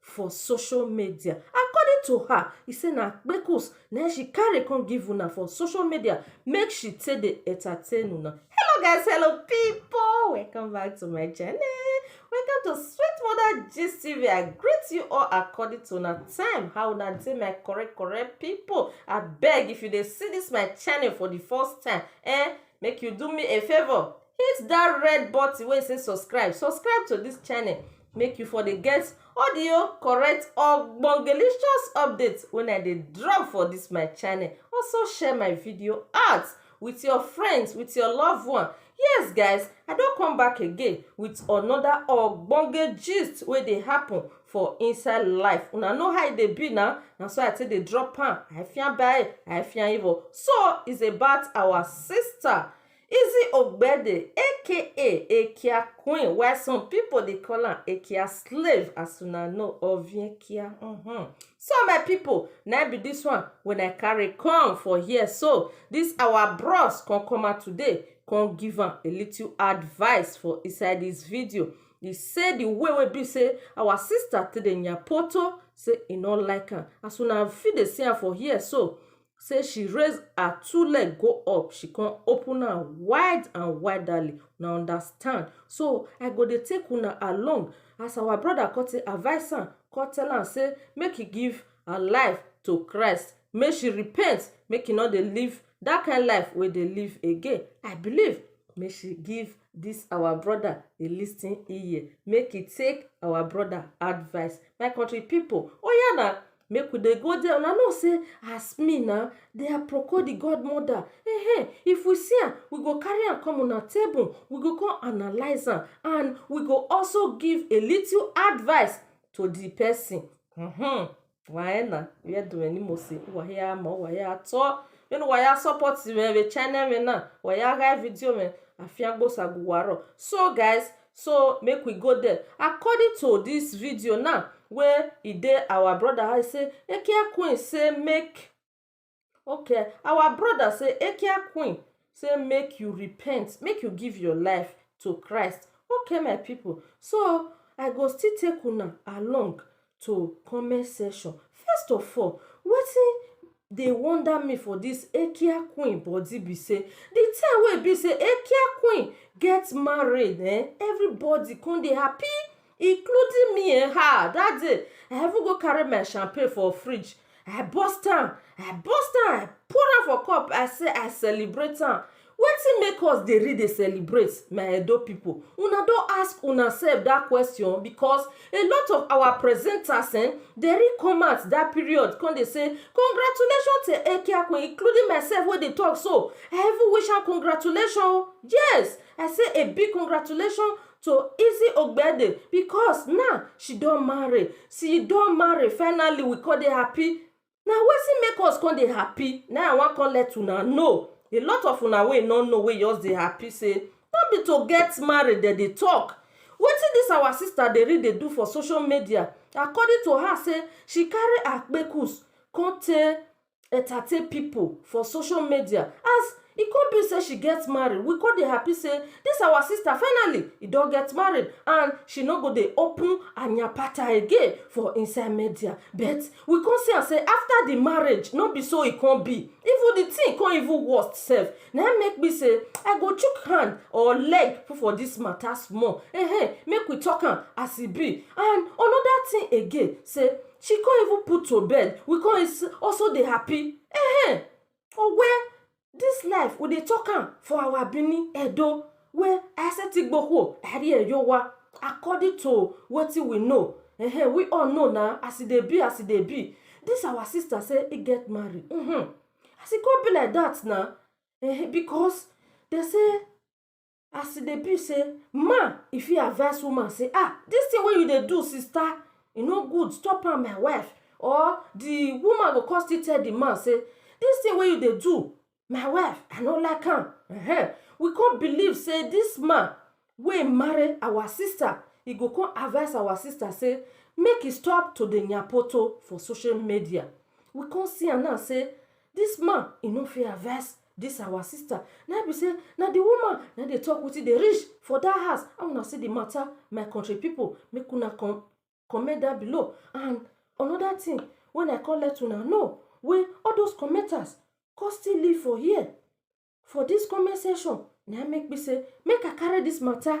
for social media. According to her, e say na kpekus na im she carry come give una for social media make she take dey entertain una. Hello guys, hello people, welcome back to my channel. Welcome to Sweet Mother Gist TV. I greet you all according to una time. How una dey my correct correct people? Abeg if you dey see this my channel for the first time, eh, make you do me a favour hit that red button wey say subscribe subscribe to this channel make you for dey get all the oh, correct ogbongelicious updates when i dey drop for this my channel also share my video out with your friends with your loved one yes guys i don come back again with another ogbonge gist wey dey happen for inside life una know how e dey be na na so i take dey drop am i fian bae i fian evil so it's about our sister Izzy Ogbede aka Ekia Queen while some pipo dey call am Ekia Slave as una know of Ekia uhmm. So my pipo na im be dis one wey I carry come for here so, dis our bros come come out today come give am a little advice for inside dis video e say di way wey e be say our sister take dey nyapoto say e no like am as una fit dey see am for here so sey she raise her two leg go up she come open am wide and widely una understand so I go dey take una along as our brother come take advice am come tell am sey make e give her life to Christ make she repent make e no dey live that kind life wey e dey live again I believe make she give this our brother a listening ear make e take our brother advice my country people oya na Make we dey go dia una know sey as me na dia proko di god mother um if we see am we go carry am come una table we go come analyse am and we go also give a little advice to di pesin um waee na where do weni mo se waya mo waya to weni waya support me channel me na waya hide video me afia gbosa guwaro so guys so make we go there according to this video now wey e dey our brother I say ekia queen say make okay our brother say ekia queen say make you repent make you give your life to christ okay my people so i go still take una along to comment section first of all wetin dey wonder me for this Ekia queen body be sey the time wey e be sey Ekia queen get married um everybody come dey happy including me um that day I even go carry my champagne for fridge I burst am, I burst am, I pour am for cup, I say I celebrate am. Wetin make us dey really dey celebrate my Edo pipu? Una don ask una sef dat question? Because a lot of our presenters um dey really come out dat period come dey say congratulations to Eke Akwin including myself wey dey talk so, I even wish am congratulations o, yes! I say a big congratulations to easy ogbede because now she don marry she don marry finally we come dey happy na wetin make us come dey happy na i wan come let una know a lot of una wey no know wey just dey happy say no be to get married dem dey talk wetin this our sister dey really dey do for social media according to her say she carry akpekus come tey entertain people for social media as e come be say she get married we come dey happy say this our sister finally e don get married and she no go dey open anyapata again for inside media but we come see am say after the marriage no be so e come be even the thing come even worse sef na im make me say i go chook hand or leg put for this matter small eh make we talk am as e be and another thing again say She con even put to bed, we con is also dey happy. Ehen! Owe, dis life we dey talk am for our Bini, Edo, where Asetigboho, Ari Eyowa, according to wetin we know, ehen, we all know na as e dey be, as e dey be. Dis our sister say e get marry, uhmm, as e con be like dat na, ehen, because dem say. as e dey be sey man e fit advice woman sey um dis thing wey you dey do sister e no good stop am my wife or de woman go come still tell de man sey dis thing wey you dey do my wife I no like am um we come believe sey dis man wey marry our sister e go come advice our sister sey make e stop to dey yanpoto for social media we come see am now sey dis man e no fit advice This our sister na be say na the woman na dey talk wetin dey reach for that house. How una see the matter, my country people? Make una come comment down below. And another thing when I come let una know wey all those commenters come still leave for here for this comment section na him make me say make I carry this matter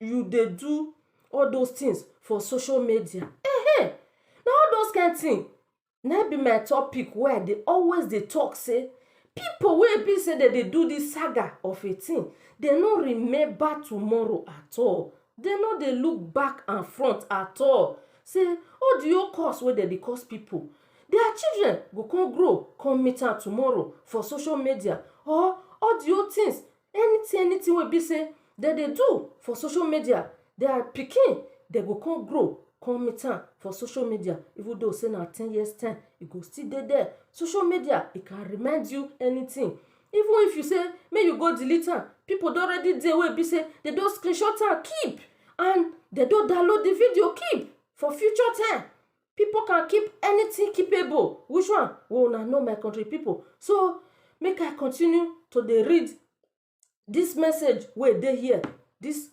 you dey do all those things for social media um na all those kind thing na im be my topic wey I dey always dey talk say people wey e be say dem dey do this saga of a thing dem no remember tomorrow at all dem no dey look back and front at all say all the whole curse wey dem dey curse people their children go come grow come meet am tomorrow for social media or all the whole things anything anything wey be sey dem dey do for social media their pikin dem go come grow come meet am for social media even though sey na ten years time e go still dey there social media e can remind you anything even if you sey make you go delete am people don already dey wey be sey dem don screenshot am keep and dem don download the video keep for future time Pipu can keep anything keepable. Which one? Una know my country pipu. So, make I continue to dey read dis message wey e dey here, dis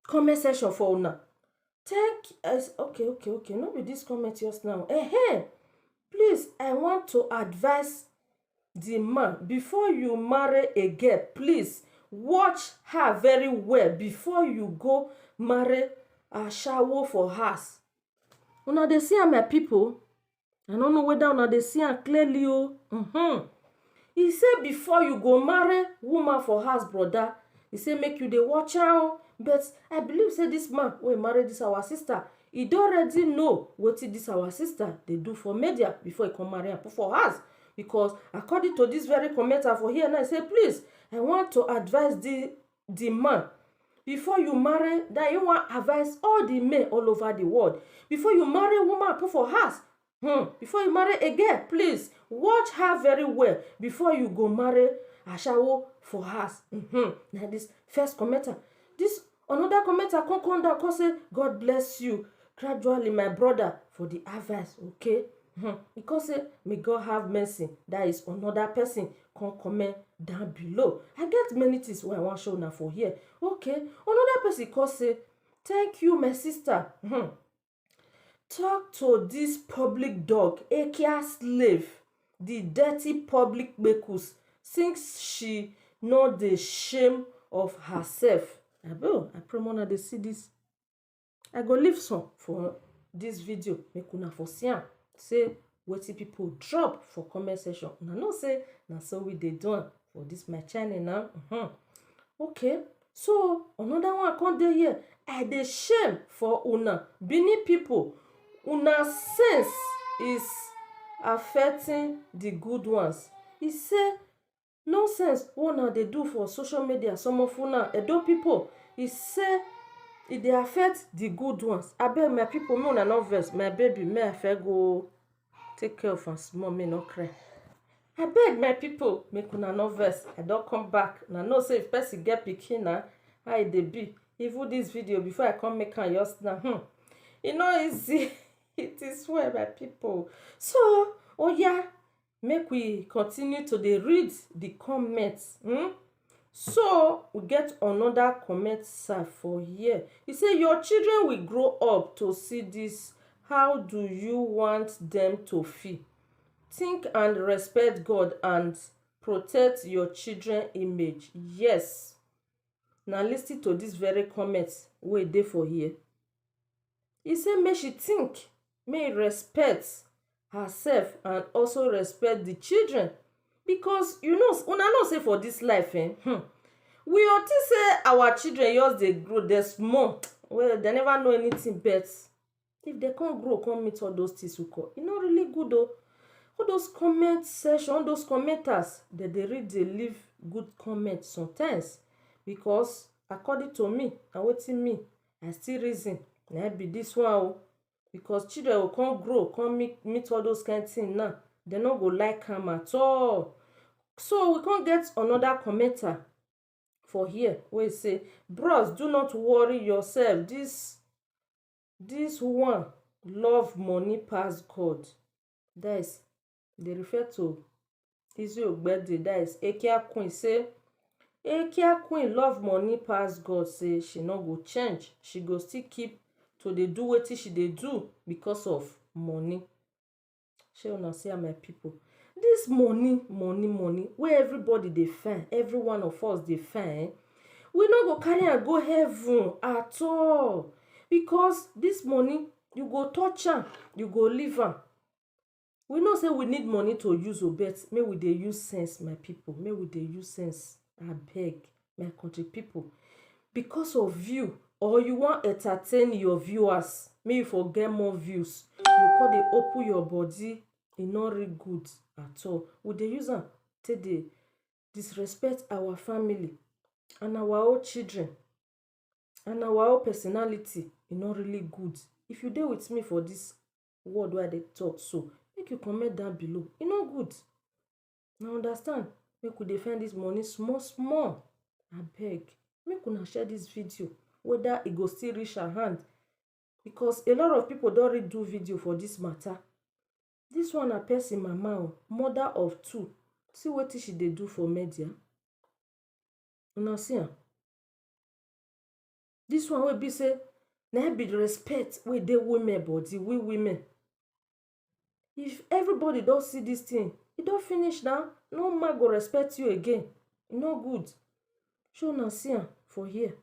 comment section for una. Thank um okay okay okay no be dis comment just now um. Please I want to advice the man before you marry a girl please watch her very well before you go marry ashawo for house una dey see am my people i no know whether una dey see am clearly o mm-hmm. he say before you go marry woman for house brother he say make you dey watch am o but i believe say this man wey marry this our sister E don ready know wetin dis our sister dey do for media before e come marry am put for house because according to dis very comment I for here now, e say please I want to advice di di man before you marry dat im wan advice all di men all over di world before you marry woman put for house um before you marry a girl please watch her very well before you go marry ashawo for house um na this first commenter this another commenter come come down come say God bless you gradually my brother for the advice okay um he come say may God have mercy that is another person come comment down below I get many things wey I wan show una for here okay another person come say thank you my sister um Talk to this public dog Akia slave the dirty public kpekus since she no dey shame of herself abeg I pray make una dey see this I go leave some for this video make una for see am sey wetin people drop for comment section una know say na so we dey do am for this my channel now uh mm-hmm. -huh. okay so another one come dey here i dey shame for una benin people una sense is affecting the good ones e say Nonsense wey una dey do for social media some of una Edo pipu e sey e dey affect the good ones abeg my pipu make una no vex my baby make I first go take care of am small make e no cry abeg my pipu make una no vex I don come back una know sey if person get pikin na how e dey be even this video before I come make am just now hmmm e no easy it is well my pipu so oya Make we continue to dey read the comment um so we get another comment sef for here. E say your children will grow up to see this how do you want them to feel? Think and respect God and protect your children image. Yes na lis ten to this very comment wey dey for here. e say make she tink make e respect herself and also respect di children because you know una know say for dis life um um we go tink say our children just dey grow dey small well dey never know anytin but if dey come grow come meet all those tins nko e no really good oo all those comment section all those commenters dem dey really dey leave good comment sometimes because according to me na wetin me I still reason na im be this one oh because children go come grow come meet meet all those kind thing now dey no go like am at all so we come get another commenter for here wey say bros do not worry yourself this this one love money pass God that is dey refer to Lizzy Ogberde that is Akia Queen say Akia Queen love money pass God say she no go change, she go still keep to dey do wetin she dey do because of money. Shey una see am my pipu. Dis money money money wey everybody dey find, every one of us dey find um we no go carry am go heaven at all because dis money you go touch am you go leave am. We know sey we need money to use oh but make we dey use sense my pipu, make we dey use sense abeg my country pipu. Because of view or you wan entertain your viewers make you for get more views, you go come dey open your body, e no really good at all. We dey use am take dey disrespect our family and our own children and our own personality, e no really good. If you dey with me for dis word wey I dey talk so, make you comment down below. E no good. Una understand? Make we dey find dis money small small. Abeg, make una share dis video whether e go still reach her hand because a lot of pipu don already do video for dis matter. Dis one na pesin mama oh, mother of two. See wetin she dey do for media. Una see am. Dis one wey be sey na im be de respect wey dey women body, we women. If everybody don see dis thing, e don finish na. No man go respect you again. E no good. Shey una see am for here?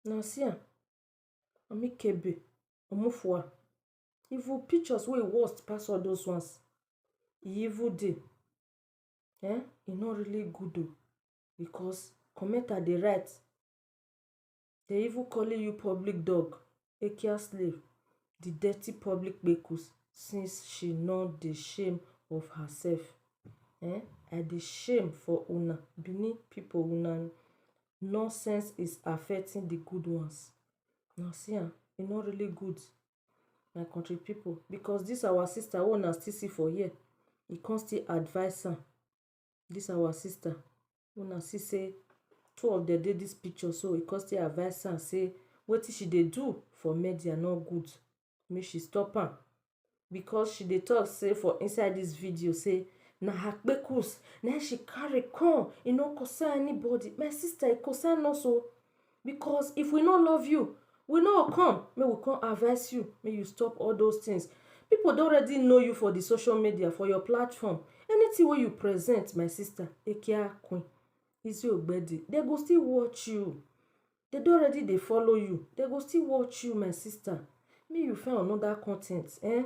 Una see am? Even pictures wey e worst pass all those ones, e even dey. um e no really good o because commenter dey write dey even calling you public dog ekia slave di dirty public kpekus since she no dey shame of herself um i dey shame for una benin pipo una nonsense is affecting di good ones una see am e no really good my country pipu because dis our sister wey una still see for here, e come still advice am. Dis our sister wey una see sey two of dem dey dis picture so, e come still advice am sey wetin she dey do for media no good, make she stop am because she dey talk sey for inside dis video sey na her kpekus na im she carry come, e no concern anybody. My sister e concern us o! because if we no love you we no go come make we come advice you make you stop all those things people don already know you for the social media for your platform anything wey you present my sister ekia queen Lizzy Ogbedi they go still watch you they don already dey follow you they go still watch you my sister make you find another content eh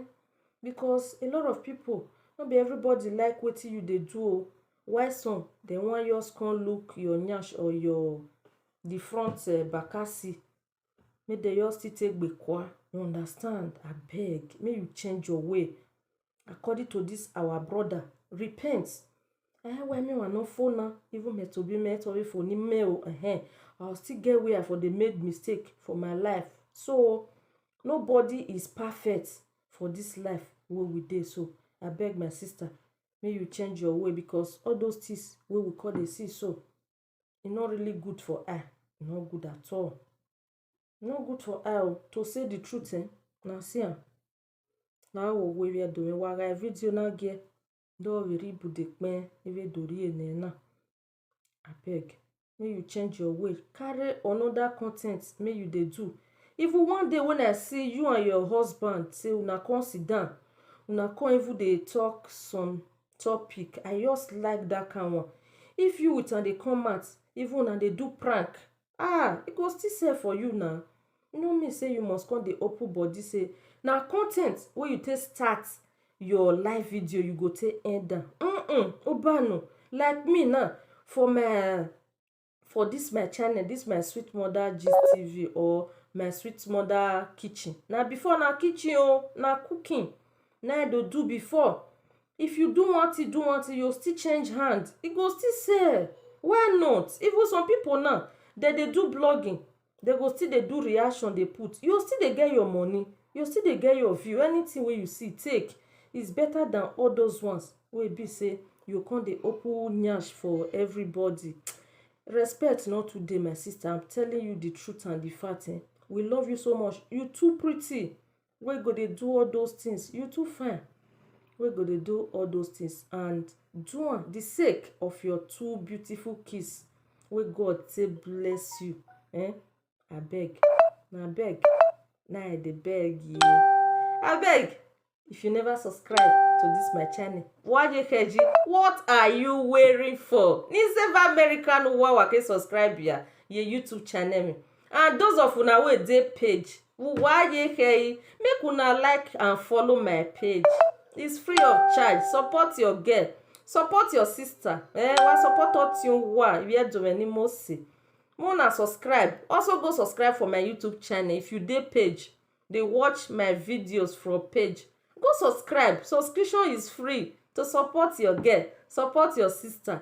because a lot of people no be everybody like wetin you dey do o Why some dem wan just come look your nyash or your the front bakasi make dem just still take gbekwa you understand abeg make you change your way according to this our brother repent um why me wan no fo na even me to be me tobi fo ni me o um I still get where I for dey make mistake for my life so nobody is perfect for this life wey we dey so abeg my sister make you change your way because all those things wey we come dey see so e no really good for eye e no good at all e no good for eye o to say the truth um una see am na awo we we do we ware video na ge do ri ri bu de kpe ive do ri ene na abeg make you change your way carry another con ten t make you dey do even one day wen I see you and your husband sey una come sit down una come even dey talk some topic I just like dat kind one if you with am dey come out even una dey do prank ah e go still sell for you na, e no mean sey you must come dey open body sey na con ten t wey you take start your live video you go take end am um mbano like me now for my for dis my channel dis my sweet mother gist tv or my sweet mother kitchen na before na kitchen oo na cooking na I dey do before if you do one thing do one thing you go still change hand e go still sell why not even some people now dem dey do blogging dem go still dey do reaction dey put you go still dey get your money you go still dey get your view anything wey you see take is better than all those ones wey e be sey you go come dey open nyash for everybody respect no too dey my sister am telling you the truth and the fact um we love you so much you too pretty wey go dey do all those things, you too fine wey go dey do all those things and do am the sake of your two beautiful kids wey God take bless you um abeg na abeg na I dey beg you abeg if you never subscribe to this my channel wajekeji what are you waiting for? Ni save American wawa ke subscribe ya ye YouTube channel me. and those of una wey dey page uwayekei make una like and follow my page is free of charge support your girl support your sister eh wa support otin wa where domeni mose make una subscribe also go subscribe for my youtube channel if you dey page dey watch my videos from page go subscribe subscription is free to support your girl support your sister